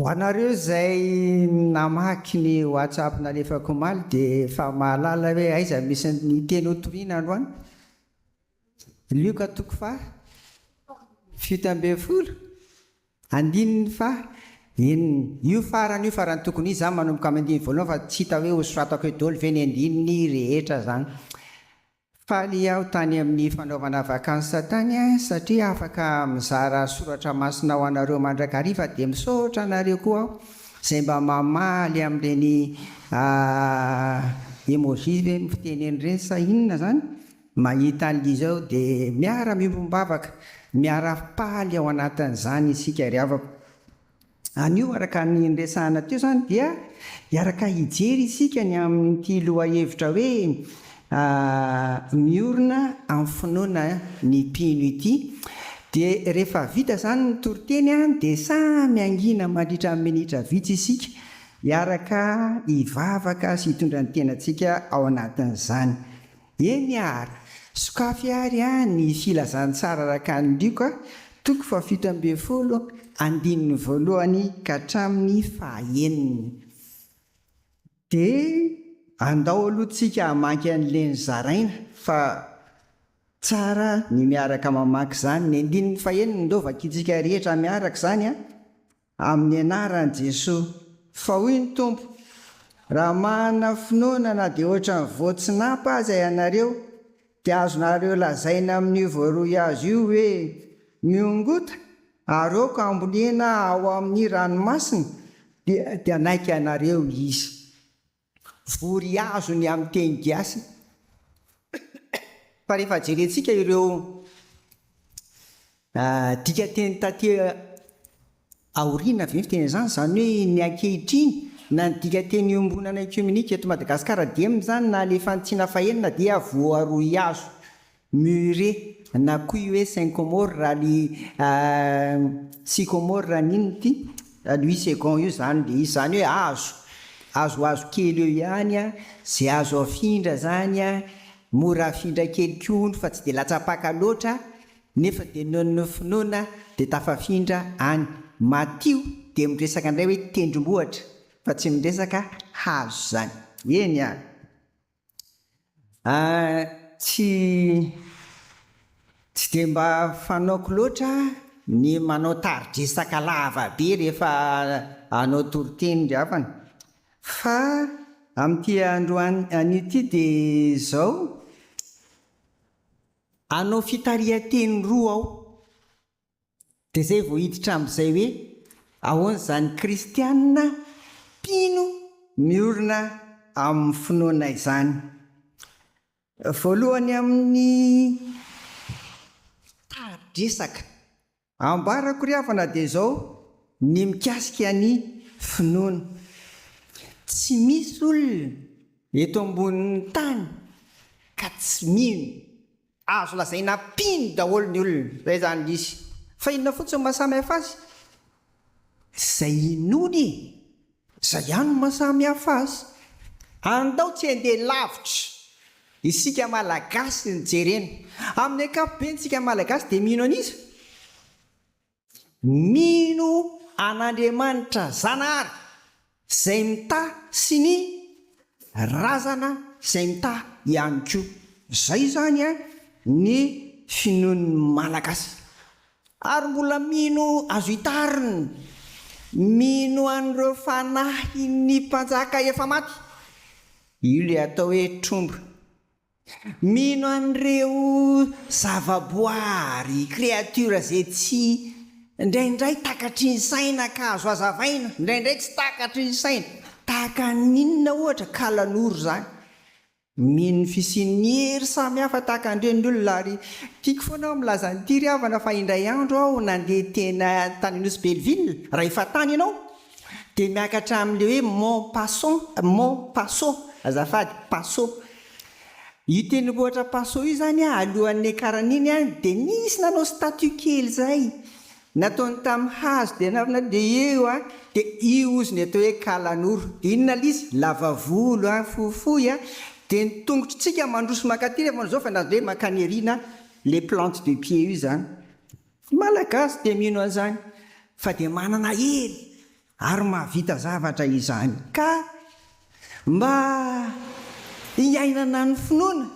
Ho anareo izay namaky ny WhatsApp nalefako omaly dia efa mahalala hoe aiza misy ny teny hotoriana androany. Lioka toko faha fito ambin'ny folo andininy faha enina. Io farany io farany tokony izy zany manomboka amin'ny andininy voalohany fa tsy hita hoe ho soratako eo doly ve ny andininy rehetra zany. Faly aho tany amin'ny fanaovana vacances tany an, satria afaka mizara soratra masina ho anareo mandrakariva dia misaotra anareo koa aho izay mba mamaly amin'ireny emoji ve no fiteneny ireny sa inona zany? Mahita an'lly izao dia miara miombom-bavaka, miara-faly ao anatin'izany isika ry havako. Anio araka ny niresahana teo izany dia hiaraka hijery isika ny amin'ity lohahevitra hoe miorina amin'ny finoana ny mpino ity. Dia rehefa vita izany ny toriteny dia samy hangina mandritra ny minitra vitsy isika hiaraka hivavaka sy hitondra ny tenantsika ao anatin'izany. Eny ary, sokafy ary ny Filazantsara arakan'i Lioka, toko fahafito ambin'ny folo, andininy voalohany ka hatramin'ny fahaeniny. Dia andao aloha tsika hamaky an'ileny zaraina fa tsara ny miaraka mamaky izany. Ny andininy faheniny indao vakintsika rehetra miaraka izany an! Amin'ny anaran'i Jesoa. Fa hoy ny Tompo, Raha manana finoana na dia ohatran'ny voatsinapa aza ianareo, dia azonareo lazaina amin'io voarohy hazo io hoe, Mihongota, aroako hambolena ao amin'ny ranomasina, dia hanaiky anareo izy. Vory azo ny amin'ny teny gasy fa rehefa jerentsika ireo dikanteny taty aoriana ve ny fiteny izany? Izany hoe ny ankehitriny na ny dikanteny iombonana ekiomenika eto Madagasikara dimy izany na alefan'ny tsina fahenina dia voaroy azo Mûrier, na koa hoe syncomore raha ny sycomore raha ny inona ity? Louis second io izany dia izy izany hoe hazo, hazohazo kely eo ihany an, izay azo afindra izany an, mora afindra kely koa hono fa tsy dia latsam-paka loatra nefa dia noho ny finoana dia tafafindra any. Matio dia miresaka indray hoe tendrombohitra fa tsy miresaka hazo izany. Eny an! Tsy tsy dia mba fanaoko loatra ny manao tari-dresaka lava be rehefa hanao toriteny ry havana. Fa amin'ity andro anio ity dia izao, hanao fitarihan-teny roa aho. Dia izay vao hiditra amin'izay hoe ahoana izany kristiana mpino miorina amin'ny finoana izany. Voalohany amin'ny tari-dresaka ambarako ry havana dia izao ny mikasika ny finoana. Tsy misy olona eto ambonin'ny tany ka tsy mino Azo lazaina mpino daholo ny olona, izay izany indrisy. Fa inona fotsiny no mahasamihafa azy? Izay inoany e! Izay ihany no mahasamihafa azy. Andao tsy handeha lavitra, isika Malagasy no jerena. Amin'ny ankapobeny isika Malagasy dia mino an'iza? Mino an'Andriamanitra Zanahary izay mitaha sy ny razana izay mitaha ihany koa. Izay izany ny finoan'ny Malagasy. Ary mbola mino azo itarina, mino an'ireo fanahin'ny mpanjaka efa maty. Io ilay atao hoe tromba. Mino an'ireo zavaboary, créatures, izay tsy, indraindray takatry ny saina ka azo hazavaina, indraindray tsy takatry ny saina, tahaka ny inona ohatra, kalanoro izany. Mino ny fisian'ny hery samy hafa tahaka an'ireny ny olona ary tiako foana aho milaza an'ity ry havana fa indray andro aho nandeha teny tany Nosy Belleville raha efa tany ianao Dia miakatra amin'ilay hoe mon paso, mon paso, azafady, paso. Io tendrombohitra Paso io izany alohan'ny niakarany iny dia nisy nanao statue kely izay, nataony tamin'ny hazo dia nanaovana dia eo dia io hozy ny atao hoe Kalanoro. Dia inona ilay izy? Lava volo, fohifohy, dia ny tongotr'tsika mandroso mankaty rehefa manao izao fa na dia hoe mankany aoriana ilay plante de pied io izany. Ny Malagasy dia mino an'izany fa dia manana hery ary mahavita zavatra izany ka mba hiainana ny finoana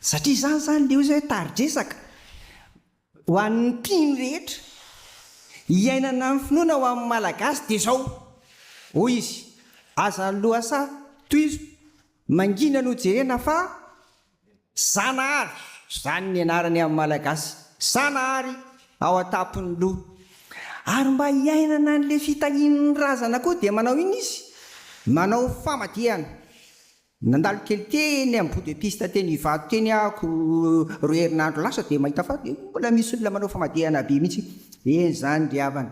satria izany izany ilay hoe tari-dresaka ho an'ny mpino rehetra. Hiainana ny finoana ho amin'ny Malagasy dia izao, hoy izy, aza lohasaha, tohizo, mangina no jerena fa Zanahary, izany ny anarany amin'ny Malagasy, Zanahary ao an-tampon'ny loha. Ary mba hiainana an'ilay fitahian'ny razana koa dia manao inona izy? Manao famadihana. Nandalo kely teny amin'ny bout de piste teny Ivato teny aho roa herinandro lasa dia mahita fa dia mbola misy olona manao famadihana be mihitsy. Eny izany ry havana.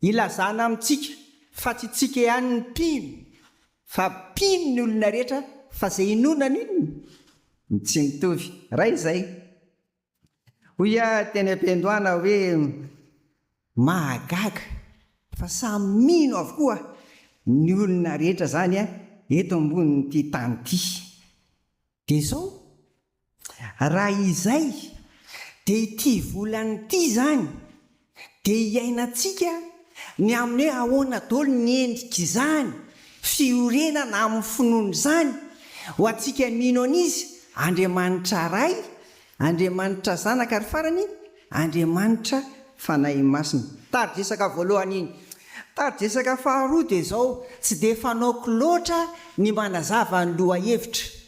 Ilazana amintsika fa tsy tsika ihany ny mpino Fa mpino ny olona rehetra fa ze inoana amin ny tsy mitovy Ray izay hoy ah teny ampiandohana hoe mahagaga fa samy mino avokoa ny olona rehetra zany eto ambony ity tany ity de zao Raha izay, dia ity volana ity izany dia iainantsika ny amin'ny hoe ahoana daholo ny endrik'izany fiorenana amin'ny finoana izany, ho antsika mino an'Izy, Andriamanitra Ray, Andriamanitra Zanaka ary farany Andriamanitra Fanahy Masina. Tari-dresaka voalohany iny. Tari-dresaka faharoa dia izao, tsy dia fanaoko loatra ny manazava ny lohahevitra.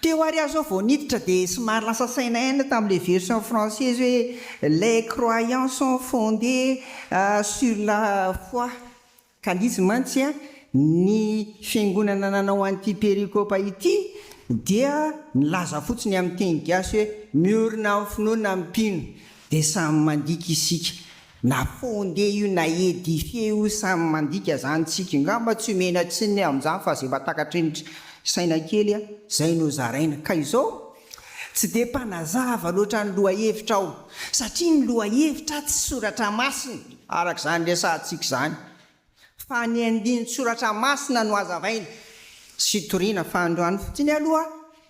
Teo ary aho zao vao niditra dia somary lasa saina ihany tamin'ilay version française hoe Les croyants sont fondés sur la foi ka litsy mantsy ny fiangonana nanao an'ity perikopa ity dia nilaza fotsiny amin'ny teny gasy hoe miorina amin'ny finoana mpino dia samy mandika isika Na fondé io na édifié io samy mandika zany tsika ngamba tsy omena tsininy amzany fa ze mba takatry ny saina kely a zay no zaraina ka izao tsy de mpanazava loatra ny lohahevitra aho satria ny lohahevitra tsy soratra masina arak'izany resahantsika izany Fa ny andinin-tsoratra masina no hazavaina sy toriana fa androany fotsiny aloha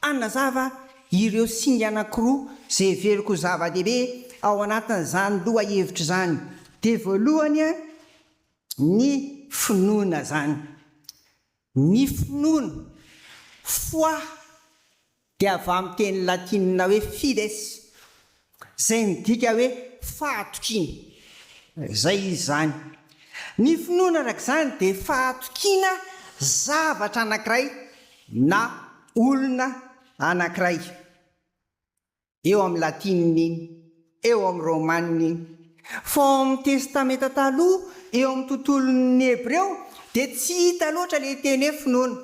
hanazava ireo singa anankiroa izay heveriko ho zava-dehibe ao anatin'izany lohahevitra izany dia voalohany ny finoana izany Ny finoana, foi, dia avy amin'ny teny latinina hoe fides, izay midika hoe fahatokiana. Izay izy izany. Ny finoana, araka izany, dia fahatokiana zavatra anankiray na olona anankiray. eo amin'ny latinina iny, eo amin'ny romanina iny. Fa ao amin'ny Testamenta Taloha, eo amin'ny tontolon'ny Hebreo, dia tsy hita loatra ilay teny hoe finoana.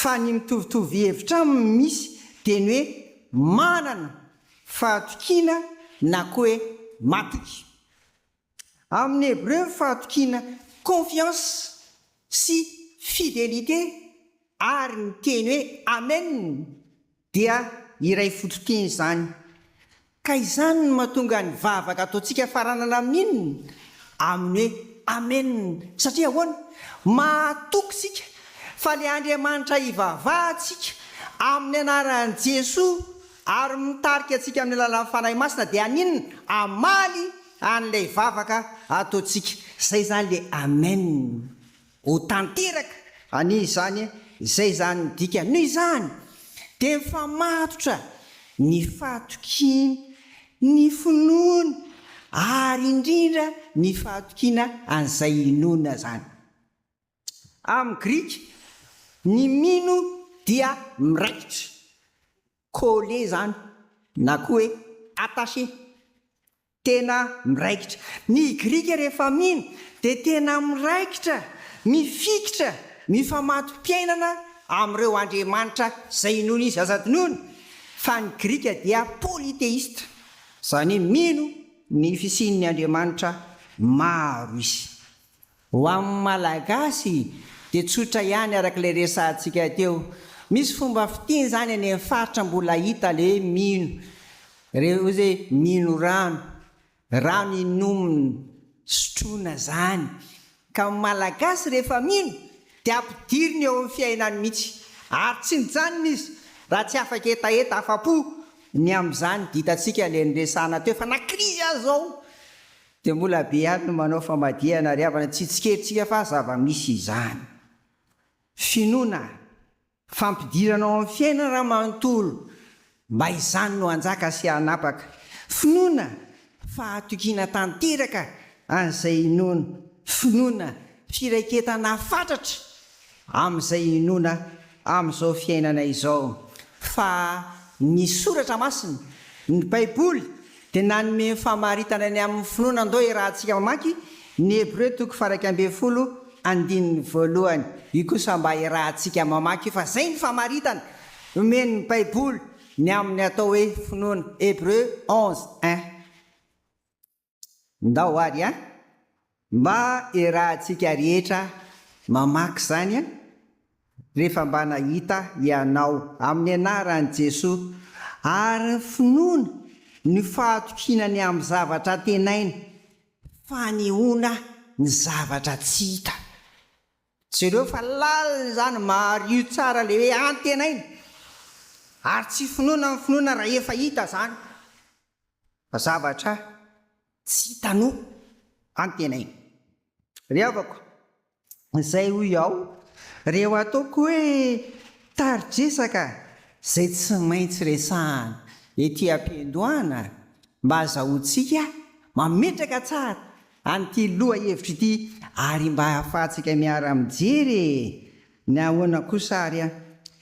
Fa ny mitovitovy hevitra aminy misy dia ny hoe manana fahatokiana na koa hoe matoky. Amin'ny hebreo, fahatokiana, confiance, sy fidelite, ary ny teny hoe amen dia iray fototin'izany. Ka izany no mahatonga ny vavaka ataontsika faranana amin'ny inona? Amin'ny hoe amen. Satria ahoana? Mahatoky isika fa ilay Andriamanitra ivavahantsika amin'ny anaran'i Jesoa ary mitarika antsika amin'ny alalan'ny Fanahy Masina dia haninona? Hamaly Any lay vavaka ataontsika zay zany le Amen ho tanteraka anie izany e! Izay zany ny dikany. Noho izany dia mifamatotra ny fahatokiany ny finoany ary indrindra ny fahatokiana an'izay inoana zany. Amin'ny grika, ny mino dia miraikitra. Coller izany na koa hoe attacher. Tena miraikitra. Ny Grika rehefa mino dia tena miraikitra, mifikitra, mifamato-piainana amin'ireo andriamanitra izay inoany izy aza adinoina, fa ny Grika dia polytheiste, izany hoe mino ny fisian'ny andriamanitra maro izy. Ho amin'ny Malagasy dia tsotra ihany araka ilay resahantsika teo. Misy fomba fitia izany any amin'ny faritra mbola hita le mino re ozy hoe mino rano, rano inomina, sotroina izany. Ka ny Malagasy rehefa mino dia ampidiriny eo amin'ny fiainany mihitsy ary tsy mijanona izy raha tsy afaka hetaheta afa-po ny amin'izany dia hitantsika ilay niresahana teo fa na krizy aza izao Dia mbola be ihany no manao famadihana ary havana tsy tsikerintsika fa zava-misy izany. Finoana, fampidirana ao amin'ny fiainana raha manontolo mba izany no hanjaka sy hanapaka. Finoana, fahatokiana tanteraka an'izay inoana. Finoana, firaiketana fatratra Amin'izay hinoana amin'izao fiainana izao fa ny Soratra Masina, ny Baiboly, dia nanome famaritana ny amin'ny finoana Ndoa Iarahantsika mamaky ny Hebreo toko faha-iraika ambin'ny folo andininy voalohany Io kosa mba iarahantsika mamaky io fa zay ny famaritana omen'ny Baiboly ny amin'ny atao hoe finoana Hebreo onze un. Ndao ary a! Mba iarahantsika rehetra mamaky izany a! Rehefa mba nahita ianao amin'ny anaran'i Jesoa ary finoana ny fahatokinany amin'ny zavatra antenaina, fanehoana ny zavatra tsy hita. Jereo fa lalina izany mariho tsara ilay hoe antenaina ary tsy finoana ny finoana rahefa hita izany. Zavatra tsy hitanao any tena iny. Ry havako, izay hoy aho, reo ataoko hoe tari-dresaka izay tsy maintsy resahana ety am-piandohana mba hazahoantsika mametraka tsara an'ity lohahevitra ity ary mba hahafahantsika miara-mijery e! Ny ahoana kosa ary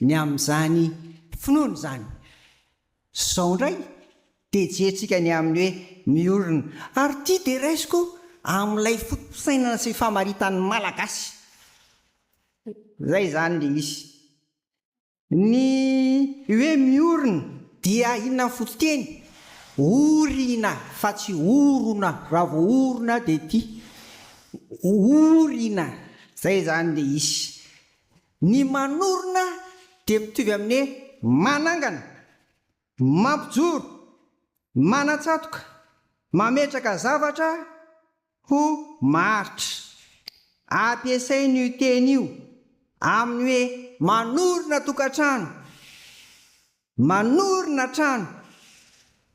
ny amin'izany finoana izany? Zao indray dia jerintsika ny amin'ny hoe miorina. Ary ity dia raisiko amin'ilay foto-pisainana sy famaritan'ny Malagasy. Izay izany ilay izy. Ny hoe miorina dia inona ny fototeny? Orina fa tsy orona, raha vao orona dia ity. Orina, izay izany ilay izy. Ny manorina dia mitovy amin'ny manangana, mampijoro, manatsatoka, mametraka zavatra ho maharitra. Ampiasain'io teny io amin'ny hoe manorina tokantrano. Manorina trano,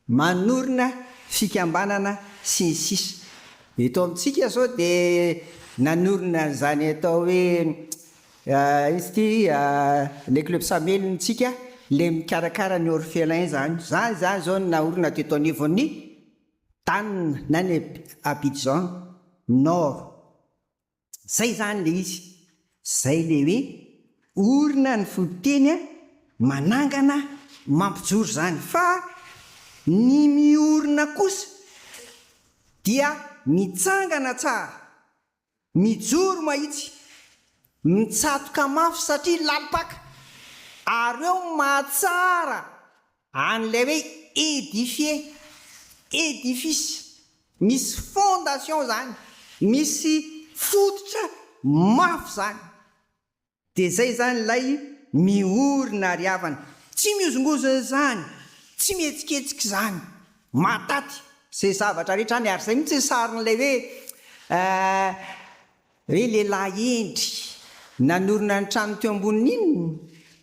manorina fikambanana sy ny sisa Eto amintsika izao dia nanorina an'izany atao hoe inona ity ilay club Samelintsika ilay mikarakara ny orphelins izany, izany izany izao no naorina teto anivon'ny tanina na ny Abidjan nord Zay zany le izy. Zay le hoe orina ny foiteny manangana mampijoro zany fa ny miorina kosa dia mitsangana tsara mijoro mahitsy mitsatoka mafy satria lalim-paka ary eo mahatsara Any ilay hoe édifier, édifice, misy fondation izany, misy fototra mafy izany. Dia izay izany ilay miorina ary havana. Tsy mihozongozona izany, tsy mihetsiketsika izany. Mahataty izay zavatra rehetra any, ary izay mihitsy ny sarin'ilay hoe eh, Ry lehilahy hendry nanorina ny trano teo ambonin'ny inona?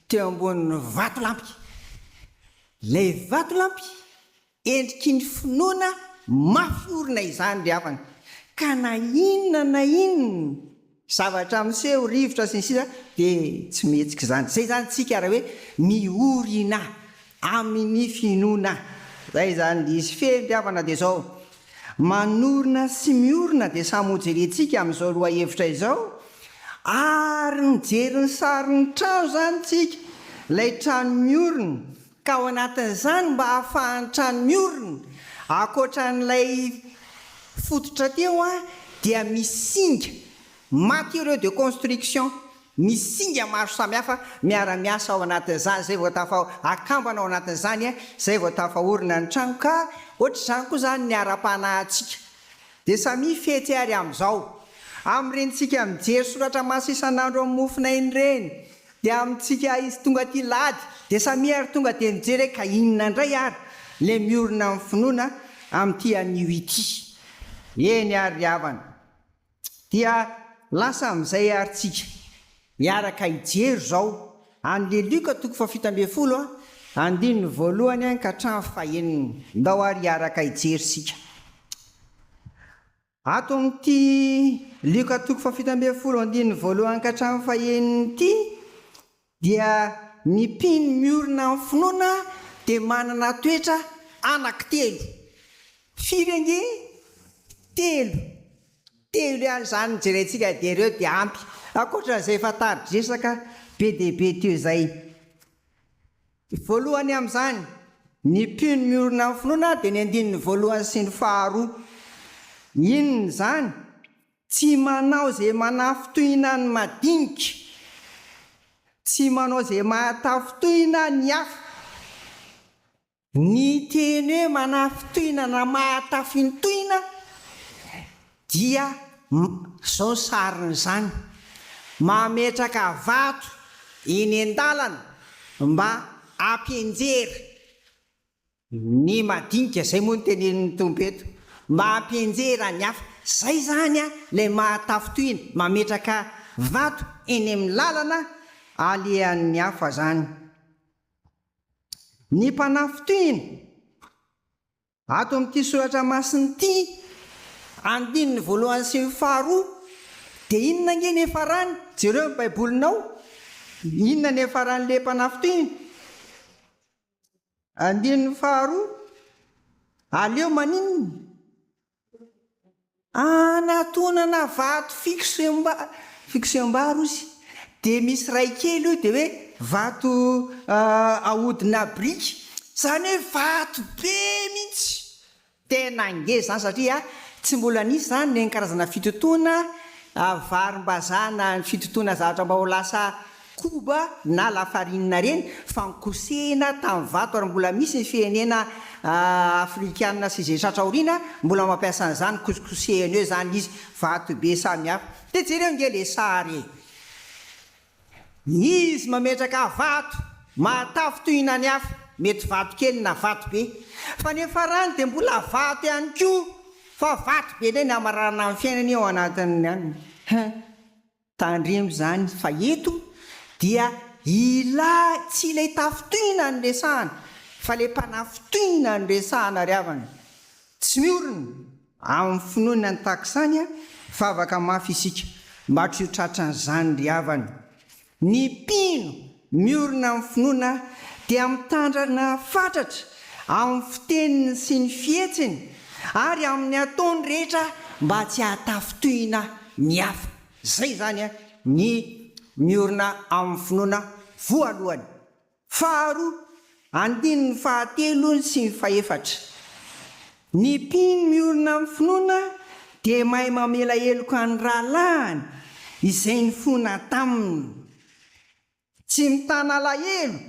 Teo ambonin'ny vatolampy. Ilay vatolampy endriky ny finoana mafy orina izany ry havana, ka na inona na inona zavatra miseho, rivotra sy ny sisa dia tsy mihetsika izany. Izay izany tsika ary hoe ny orina. Amin' ny finoana izay izany diso fiediavana dia izao, Manorina sy miorina dia samy hojerentsika amin' izao lohahevitra izao, ary nijery ny sarin' ny trano izany isika, ilay trano miorina, ka ao anatin' izany mba hahafahan' ny trano miorina, ankoatra an' ilay fototra teo dia misy singa Matériaux de construction, misy singa maro samihafa miara-miasa ao anatin'izany, izay vao tafa, akambana ao anatin'izany izay vao tafaorina ny trano ka ohatr'izany koa izany ny ara-panahintsika dia samia fety ary amin'izao. Amin'ireny tsika mijery soratra masina isan'andro amin'ny mofona iny ireny dia amintsika izy tonga aty lady dia samia ary tonga dia mijery hoe ka inona indray ary ilay miorina amin'ny finoana amin'ity anio ity. Eny ary ry havana. Dia lasa amin'izay ary tsika miaraka hijery izao an'i le Lioka toko fahafito ambin'ny folo a, andininy voalohany an ka hatramin'ny fahenina. Ndao ary hiaraka hijery isika ato amin'ity Lioka toko fahafito ambin'ny folo andininy voalohany ka hatramin'ny fahenina ity. Dia ny mpino miorina amin'ny finoana dia manana toetra anaky telo. Firy ange? Telo. Telo ihany izany no jerentsika dia ireo dia ampy ankoatran'izay efa tari-dresaka be dia be teo izay. Voalohany amin'izany, ny mpino miorina amin'ny finoana dia ny andininy voalohany sy ny faharoa. Inona izany? Tsy manao izay manafintohina ny madinika. Tsy manao izay mahatafintohina ny hafa. Ny teny hoe manafintohina na mahatafintohina dia izao ny sariny izany, mametraka vato eny an-dalana mba hampianjera Ny madinika zay moa no tenenin'ny Tompo eto. Mba ampienjehy raha ny hafa. Zay zany an ilay maha tafintohina, mametraka vato eny amin'ny lalana alehan'ny hafa zany. Ny mpanafintohina, ato amin'ity soratra masina ity, andininy voalohany sy ny faharoa, dia inona ange ny efarany? Jereo ny baibolinao, inona ny efaran'ilay mpanafintohina? Andininy faharoa, Aleo maninona? Anatonana vato fixe mba fixe mba rozy dia misy iray kely io dia hoe vato ahodina biriky, izany hoe vato be mihitsy. Tena ngeza izany satria tsy mbola nisy izany ny karazana fitotoana varimbazaha na ny fitotoana zavatra mba ho lasa koba na lafarinina ireny fa ny kosehina tamin'ny vato ary mbola misy ny firenena afrikana sy izay tratra aoriana mbola mampiasa an'izany kosikosehina eo izany izy, vato be samihafa. Dia jereo ange ilay sary e! Izy mametraka vato mahatafo toy inany hafa, mety vato kely na vato be, fa ny farany dia mbola vato ihany koa, fa vato be indray ny hamaranana ny fiainany ao anatiny any. Hein! Tandremo izany fa eto dia ilay, tsy ilay tafo toy inany no resahana, fa ilay mpanafintohina no resahana ry havana. Tsy miorina Amin'ny finoana ny takisany, vavaka mafy isika mba tsy ho tratran'izany ry havana. Ny mpino miorina amin'ny finoana dia mitandrina fatratra amin'ny fiteniny sy ny fihetsiny ary amin'ny ataony rehetra mba tsy hahatafintohina ny hafa. Izay izany ny miorina amin'ny finoana voalohany. Faharoa, andininy fahatelo sy ny fahefatra. Ny mpino miorina amin'ny finoana dia mahay mamela heloka ny rahalahiny izay nifona taminy. Tsy mitana alahelo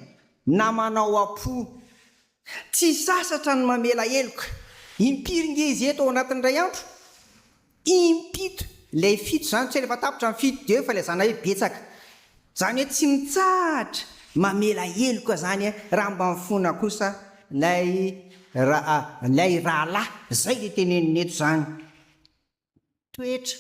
na manao am-po Tsy sasatra ny mamela heloka. Impiry nge izy eto ao anatin'ny iray andro? Impito. Ilay fito izany tsy rehefa tapitra ny fito dia eo filazana hoe betsaka. Izany hoe tsy mitsahatra mamela heloka izany raha mba mifona kosa ilay ilay rahalahy. Izay ilay tenenina eto izany. toetra.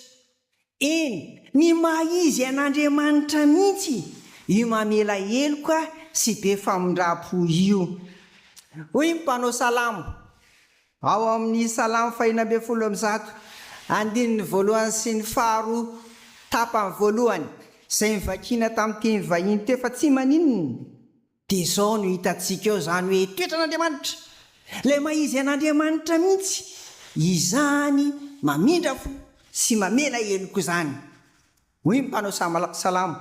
Eny, ny maha izy an'Andriamanitra mihitsy io mamela heloka sy be famindram-po io. Hoy ny mpanao salamo ao amin'ny Salamo fahina ambin'ny folo amby zato, andininy voalohany sy ny faharoa, tapany voalohany, izay novakina tamin'ny teny vahiny teo fa tsy maninona, Dia izao no hitantsika eo izany hoe toetran'Andriamanitra, ilay maha-izy an'Andriamanitra mihitsy izany mamindra fo sy mamela heloka izany. Hoy ny mpanao salamo,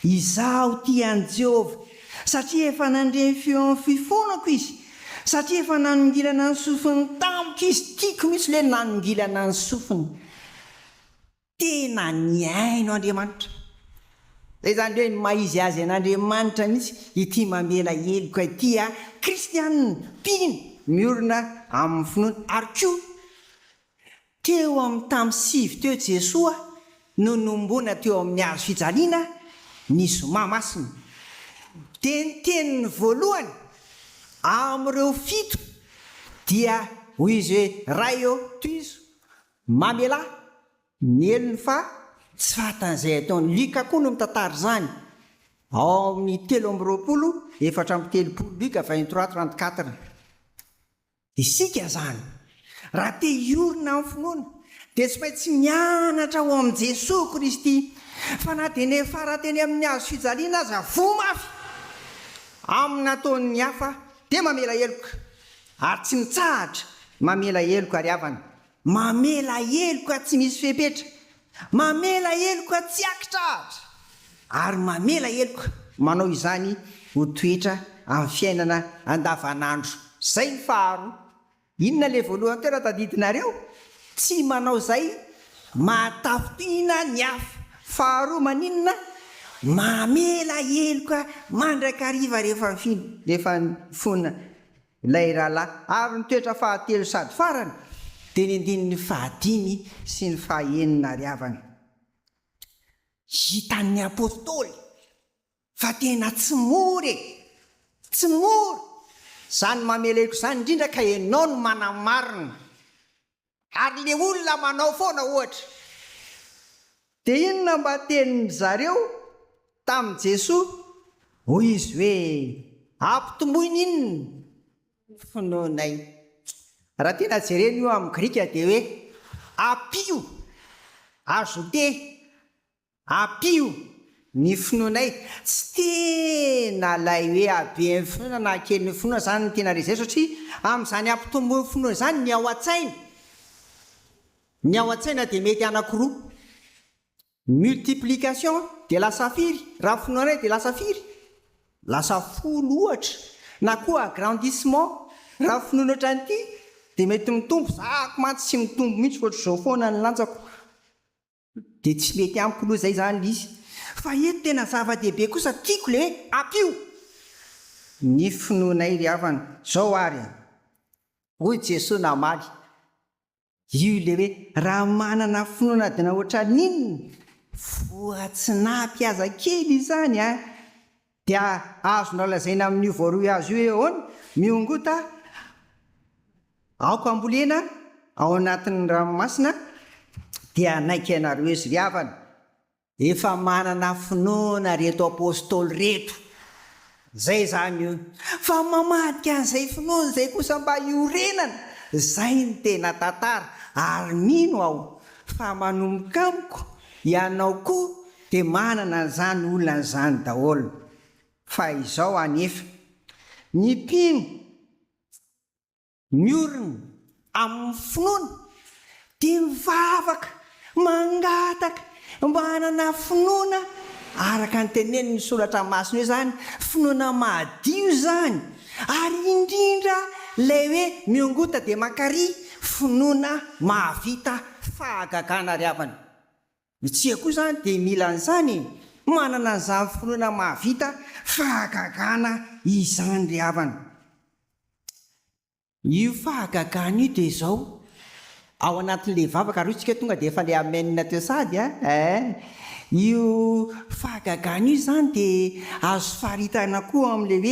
Izaho tia an'i Jehovah, satria efa nandre ny feon'ny fifonako izy, satria efa nanongilana ny sofiny tamiko izy, tiako mihitsy ilay nanongilana ny sofiny. tena nihaino Andriamanitra. Zay zany hoe ny maha izy azy an'Andriamanitra mihitsy ity mamela heloka ity a! Kristianina mpino miorina amin'ny finoana. Ary koa teo amin'ny tamin'ny sivy teo Jesoa no nohomboana teo amin'ny hazo fijaliana ny zoma masina. Dia ny teniny voalohany amin'ireo fito dia hoy izy hoe, Ray ô, tohizo Mamela ny helony fa tsy fahatan'izay ataony. Lika koa no mitantara izany ao amin'ny telo amby roapolo efatra amby telopolo Lika vingt trois trente quatre. Isika izany, raha te hiorina amin'ny finoana, dia tsy maintsy mianatra ao amin'i Jesoa Kristy, fa na dia niafara teny amin'ny hazo fijaliana aza voa mafy amin'ny nataon'ny hafa, dia mamela heloka. Ary tsy mitsahatra mamela heloka ry havana. Mamela heloka tsy misy fepetra. Mamela heloka tsy aki-trahatra. Ary mamela heloka manao izany ho toetra amin'ny fiainana andavanandro. Izay ny faharoa. Inona ilay voalohany teo raha tadidinareo? Tsy manao izay mahatafintohina ny hafa. Faharoa maninona? Mamela heloka mandrakariva rehefa mifona. Ilay rahalahy aro ny toetra fahatelo sady farany dia ny andininy fahadimy sy ny fahaenina ary havana. Hitan'ny apostoly fa tena tsy mora e! Tsy mora! Izany mameleko izany indrindra ka ianao no manamarina. Ary le olona manao foana ohatra. Dia inona mba tenin'ny zareo tamin'i Jesoa? Hoy izy hoe, Ampitomboy ny inona? Finoanay. Raha tena jerena io amin'ny grika dia hoe, Apio, ajoutez. Ampio ny finoanay, tsy tena ilay hoe habe ny finoana na kely ny finoana izany no tena resy eto satria amin'izany hampitombo ny finoana izany ny ao an-tsaina, ny ao an-tsaina dia mety anakiroa, multiplication dia lasa firy, raha finoanay dia lasa firy? lasa folo ohatra, na koa agrandissement, raha finoana ohatran'ity dia mety mitombo, zako mantsy tsy mitombo mihitsy ohatr'izao foana ny lanjako. Dia tsy mety amiko loha zay zany lisy fa eto tena zava dehibe kosa tiako le app io ny finoanay ry havana zao ary a. Hoy Jesoa namaly, io le hoe raha manana finoana dina ohatran'inona, voatsinapy aza kely izany a. Dia azonao lazaina amin'io voaroy azy io hoe ahoana? Miongota aoka ambolena ao anatin'ny ranomasina dia hanaiky anareo izy ry havana. Efa manana finoana reto apostoly reto. Zay izany io. Fa mamadika an'izay finoany izay kosa mba hiorenana. Zay no tena tantara. Ary mino aho fa manomboka amiko ianao koa. Dia manana an'izany olana izany daholo fa izao anefa ny mpino miorina amin'ny finoana dia mivavaka mangataka mba hanana finoana araka ny tenenin'ny soratra masina hoe izany finoana mahadio izany ary indrindra ilay hoe miongota dia mankary finoana mahavita fahagagana ry havana. Ny tsia koa izany dia mila an'izany e! Manana an'izany finoana mahavita fahagagana izany ry havana. Io fahagagana io dia izao, ao anatin'ilay vavaka, ary hoy isika hoe tonga dia efa ilay amen teo sady an! eh! Io fahagagana io izany dia azo faritana koa amin'ilay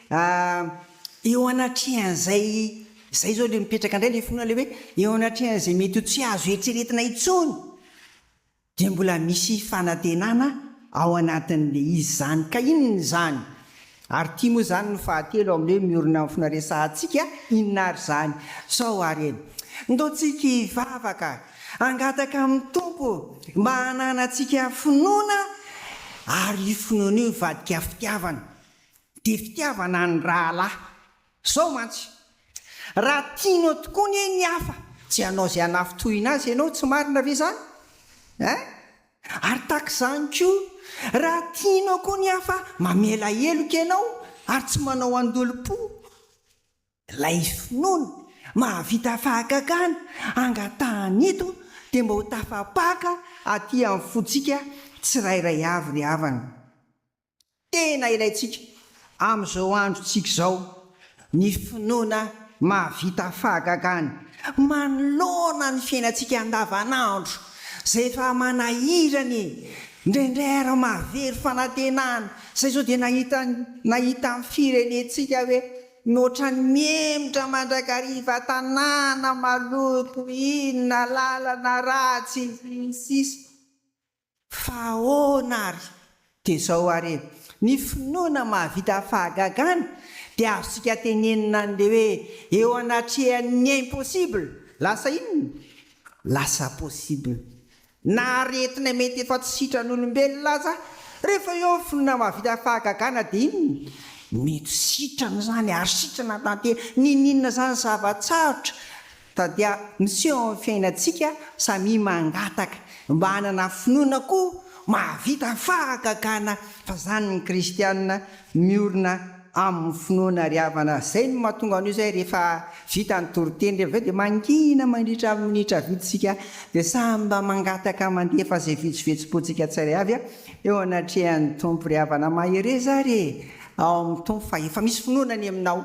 hoe Eo anatrehan'izay izay izao ilay mipetraka indray ilay finoana ilay hoe eo anatrehan'izay mety ho tsy azo eritreretina intsony dia mbola misy fanantenana ao anatin'ilay izy izany. Ka inona izany? Ary ity moa izany no fahatelo amin'ilay hoe miorina amin'ny finoana resahantsika, inona ary izany? Sao ary e! Ndao tsika hivavaka, hangataka amin'ny Tompo mba hananantsika finoana ary io finoana io hivadika fitiavana. dia fitiavana ny rahalahy. Izao mantsy, raha tianao tokoa anie ny hafa dia hanao izay hanafintohina azy ianao, tsy marina ve izany? Ein! Ary tahaka izany koa, raha tianao koa ny hafa, mamela heloka ianao ary tsy manao andolom-po. Ilay finoana mahavita fahagagana angatahana eto dia mba ho tafapaka aty amin'ny fontsika tsirairay avy ry havana. tena ilaintsika amin'izao androntsika izao, ny finoana mahavita fahagagana manoloana ny fiainantsika andavanandro izay efa manahirana e! Indraindray ary mahavery fanantenana, izay izao dia nahita nahita ny firenentsika hoe mihoatran'ny mihemotra mandrakariva tanàna maloto, inona, lalana ratsy, sy ny sisa. Fa ahoana ary? Dia izao ary e! Ny finoana mahavita fahagagana dia azontsika tenenina an'ilay hoe eo anatrehan'ny impossible, lasa inona? Lasa possible. Na aretina mety efa tsy sitran'olombelona aza, rehefa eo ny finoana mahavita fahagagana dia inona? Mety sitrana izany ary sitrana tanteraka. Niniana izany zava-tsarotra. Tadia miseho amin'ny fiainantsika samia mangataka mba hanana finoana koa mahavita fahagagana fa zany ny kristiana miorina aminy finoana ry havana zay no mahatonga an'io zay rehefa vita ny toriteny rehefa avy eo dia mangina mandritra minitra vitsy sika dia samy mba mangataka mandefa zay vetsovetsopotsika tsirairay avy eo anatrehan'ny tompo ry havana mahereza ary ao amin'ny tompo fa efa misy finoana ny aminao